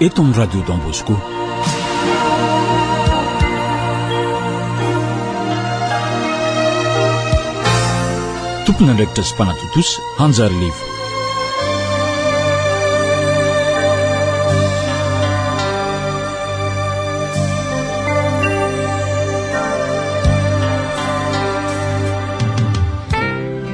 eto amin'ny Radio Don Bosco. Tompon'andraikitra sy mpanatontosa hanjary levo.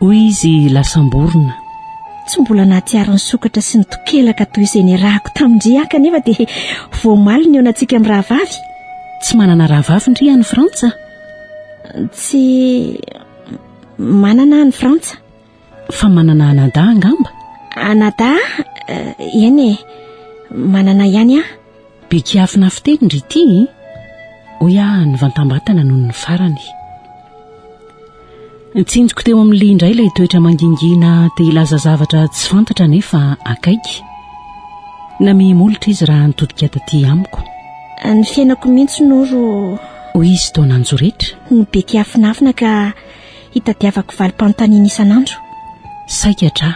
Hoy izy lasam-borona. Tsy mbola nahatsiaro ny sokatra sy ny tokelaka toy izay niarahako tamin-dry ahy kanefa dia voamaly ny eonantsika mirahavavy. Tsy manana rahavavy ndry any Frantsa? Tsy manana any Frantsa. Fa manana anadahy angamba? Anadahy? Eh, eny e, manana ihany aho. Be kiafina fiteny ry ity e Hoy aho nivantambatana noho ny farany. Tsinjoko teo amin'ny lia indray ilay toetra mangingina te hilaza zavatra tsy fantatra nefa akaiky. Namehi-molotra izy raha nitodika taty amiko. Ny fiainako mihitsy no ro Hoy izy toa nanjoretra. no be kiafinafina ka hitadiavako valim-panontaniana isan'andro. Saika tra.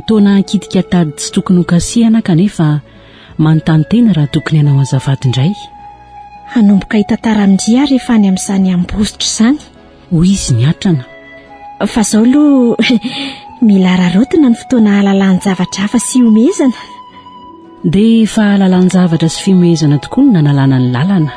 Toa nahakitika tady tsy tokony hokasihana kanefa Manontany tena raha tokony hanao azafady indray. Hanomboka hitantara amin-dry aho rehefa any amin'izany Ambositra izany. Hoy izy niatrana. Fa izao aloha mila araraotina ny fotoana hahalalan-javatra hafa sy hihomehezana. Dia fahalalan-javatra sy fihomehezana tokoa no nanalana ny lalana.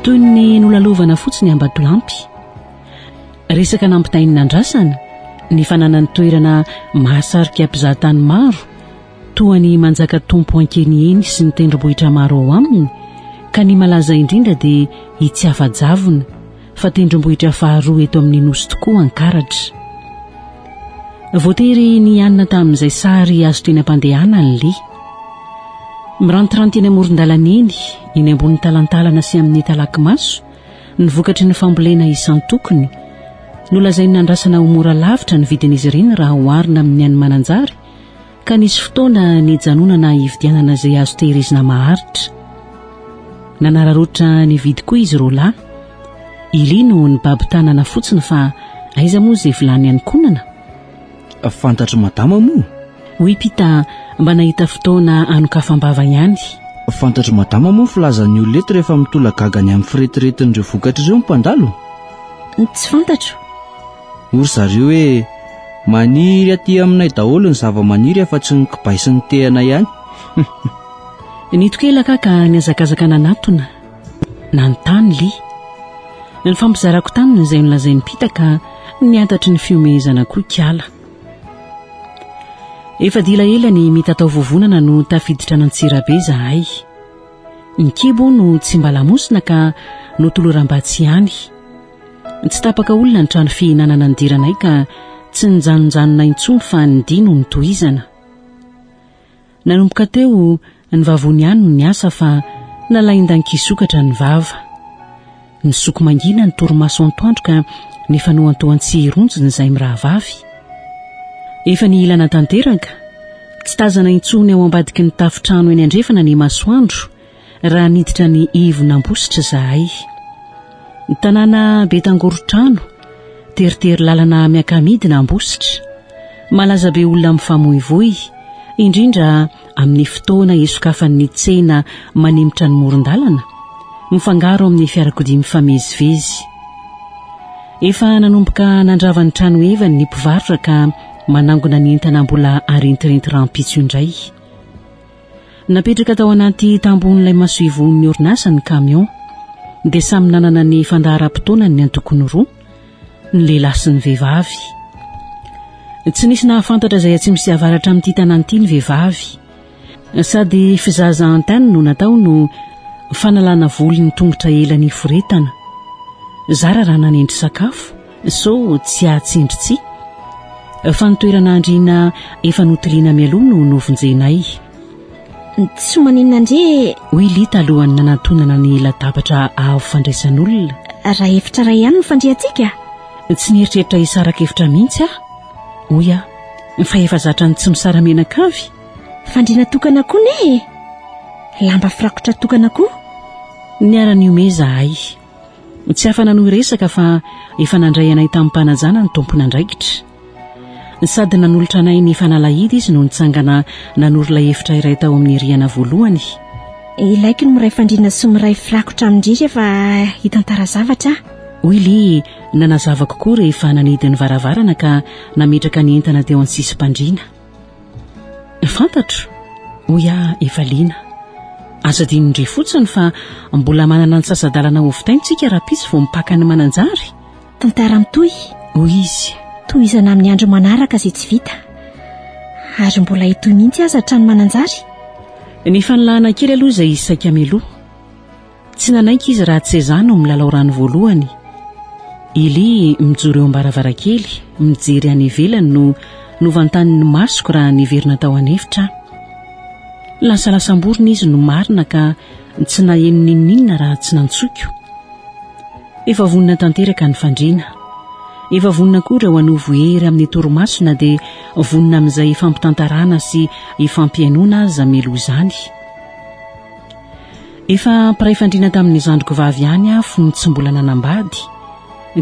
Toy ny nolalovana fotsiny Ambatolampy. Resaka nampitainina andrasana ny fananany toerana mahasarika mpizahatany maro toa ny Manjakatompo Ankeniheny sy ny tendrombohitra maro ao aminy ka ny malaza indrindra dia i Tsiafajavona fa tendrombohitra faharoa eto amin'ny Nosy tokoa Ankaratra. Voatery nihanona tamin'izay sary azo teny am-pandehana ny Lia. Mirantiranty eny amoron-dalana eny, eny ambony talantalana sy amin'ny talaky maso, ny vokatry ny fambolena isan-tokony. Nolazain'ny nandrasana ho mora lavitra ny vidin'izy ireny raha oharina amin'ny an'i Mananjary, Ka nisy fotoana nijanonana hividianana izay azo tehirizina maharitra. Nanararaotra nividy koa izy roalahy. I Lee no nibaby tanana fotsiny fa aiza moa izay vilany ankonana? Fantatr'i Madama moa? Hoy Pita mba nahita fotoana hanokafam-bava ihany. Fantatr'i Madama moa ny filazan'ny olona eto rehefa mitolagaga any amin'ny firetiretin'ireo vokatra ireo ny mpandalo? Tsy fantatro. Hoy ry zareo hoe, Maniry aty aminay daholo ny zavamaniry afa tsy ny kibay sy ny tehana ihany. Nitoky ela ka ka nihazakazaka nanatona. Nanontany Li. Nifampizarako taminy izay nolazain'i Pita ka niantatry ny fihomehezana koa Kiala. Efa dila ela ny mitatao vovonana no tafiditra an'Antsirabe izahay. Ny kibo no tsy mba lamosina ka notoloram-batsy ihany. Tsy tapaka olona ny trano fihinanana nidiranay ka tsy nijanonjanona intsony fa ny dia no nitohizana. Nanomboka teo, ny vavony ihany no niasa fa nalain-dan-kisokatra ny vava. Nisoko mangina ny torimaso antoandro ka nifanohantohan-tsihy ronjony izay mirahavavy. Efa nihilana tanteraka, tsy tazana intsony ao ambadiky ny tafontrano eny andrefana ny masoandro, Raha niditra ny ivon'Ambositra izahay. Ny tanàna be tangorotrano, teritery lalana miaka-midina Ambositra. Malaza be olona mifamoivoy, indrindra amin'ny fotoana isokafan'ny tsena manemitra ny moron-dalana, mifangaro amin'ny fiarakodia mifamezivezy. Efa nanomboka nandrava ny tranohevany ny mpivarotra ka manangona ny entana mbola arentirenty rahampitso indray. Napetraka tao anaty tambon'ilay masoivohon'ny orinasa ny kamiao, dia samy nanana ny fandaharam-potoanany ny antokony roa, ny lehilahy sy ny vehivavy. Tsy nisy nahafantatra izay atsimo sy avaratra amin'ity tanàna ity ny vehivavy. Sady fizaza antenne no natao no fanalana voly ny tongotra ela niforetana. Zara raha nanendry sakafo, Sao tsy hahatsindry tsihy? Fa ny toerana andriana efa notoriana mialoha no novonjenay. Tsy maninona ndry e! Hoy i Lita alohan'ny nanantonana ny latabatra avo fandraisan'olona. Raha efitra iray ihany no fandriantsika? Tsy nieritreritra hisaraka efitra mihitsy aho, hoy aho, fa efa zatra ny tsy misara-menaka avy. Fandriana tokana koa ne e! Lamba firakotra tokana koa. Niara-nihomehy izahay. Tsy afa-nanohy resaka fa efa nandray anay tamim-panajana ny tompon'andraikitra. Sady nanolotra anay ny fanalahidy izy no nitsangana nanoro ilay efitra iray tao amin'ny rihana voalohany. Ilaiko ny miray fandriana sy miray firakotra amin-dry rehefa hitantara zavatra aho. Hoy Li, nanazava kokoa rehefa nanidy ny varavarana ka nametraka ny entana teo an-tsisim-pandriana. Fantatro, hoy aho efa liana. Aza adinony indray fotsiny fa mbola manana antsasa-dalana hovitaina isika rahampitso vao mipaka ny mananjary. Tantara mitohy, hoy izy. Tohizana amin'ny andro manaraka izay tsy vita. Ary mbola hitohy mihitsy aza hatrany mananjary. Ny fanilahana kely aloha izay saika mialoha. Tsy nanaiky izy raha Tsezà no milalao rano voalohany. Eli mijoro eo am-baravarankely, mijery any ivelany no novantanin' ny masoko raha niverina tao an'efitra aho. Lasalasam-borona izy no marina ka tsy naheno n'inon'inona raha tsy nantsoiko. Efa vonona tanteraka ny fandriana. Efa vonona koa ireo hanovo hery amin'ny torimaso na dia vonona amin'izay ifampitantaràna sy ifampihainoana aza meloa izany. Efa mpiray fandriana tamin'ny zandriko vavy ihany aho fony tsy mbola nanambady,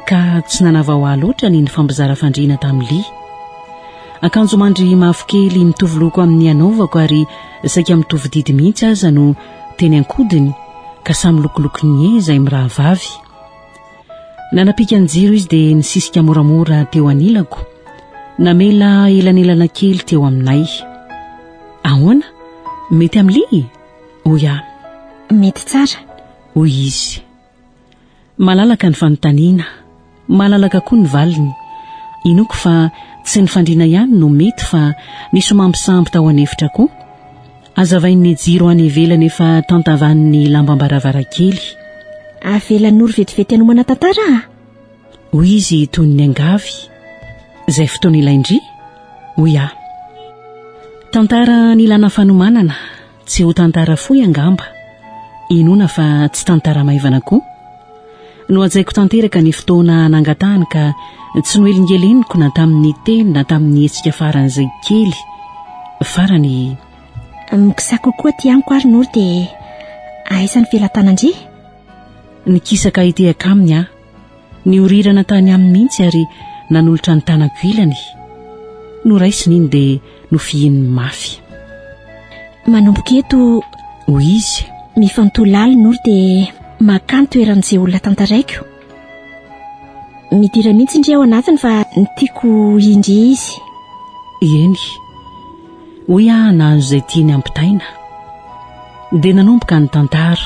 ka tsy nanavao ahy loatra ny nifampizara fandriana tamin'i Lee. Akanjo mandry mavokely mitovy loko amin'ny anaovako ary saika mitovy didy mihitsy aza no teny an-kodiny, ka samy lokoloko nier izay mirahavavy. Nanapika ny jiro izy dia nisisika moramora teo anilako, namela elanelana kely teo aminay. Ahoana? Mety amin'i Lee? hoy aho. Mety tsara, hoy izy. Malalaka ny fanontaniana, malalaka koa ny valiny. Inoako fa tsy ny fandriana ihany no mety fa misy ho mampisambo tao an'efitra koa. Azavain'ny jiro any ivelany efa tantavan'ny lambam-baravarankely. Avelanoro vetivety hanomana tantara a! hoy izy toy ny niangavy izay fotoana ilain-dry hoy aho tantara nilana fanomanana tsy ho tantara fohy angamba inoana fa tsy tantara maivana koa nohajaiko tanteraka ny fotoana nangatahany ka tsy noelingeleniko na tamin'ny teny na tamin'ny hetsika faran'izay kely farany mikisa kokoa ty amiko ary noro dia aisan'ny velatanan-dry Nikisaka hitehaka aminy aho. Niorirana tany aminy mihitsy ary nanolotra ny tanako ilany. Noraisiny iny dia nofihininy mafy. Manomboka eto, hoy izy. Mifantoha lalina ory dia makany toeran'izay olona tantaraiko. Midira mihitsy ndry ao anatiny fa ny tiako indry izy. Eny, hoy aho nahazo izay tiany ampitaina. Dia nanomboka ny tantara.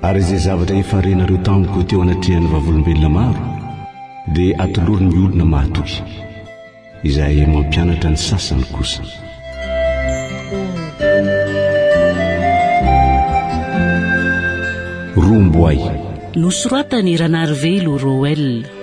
Ary izay zavatra efa renareo tamiko teo anatrehan'ny vavolombelona maro, dia atoloro ny olona mahatoky. Izahay mampianatra ny sasany kosa. Romboay. Nosoratan'i Ranarivelo Roel.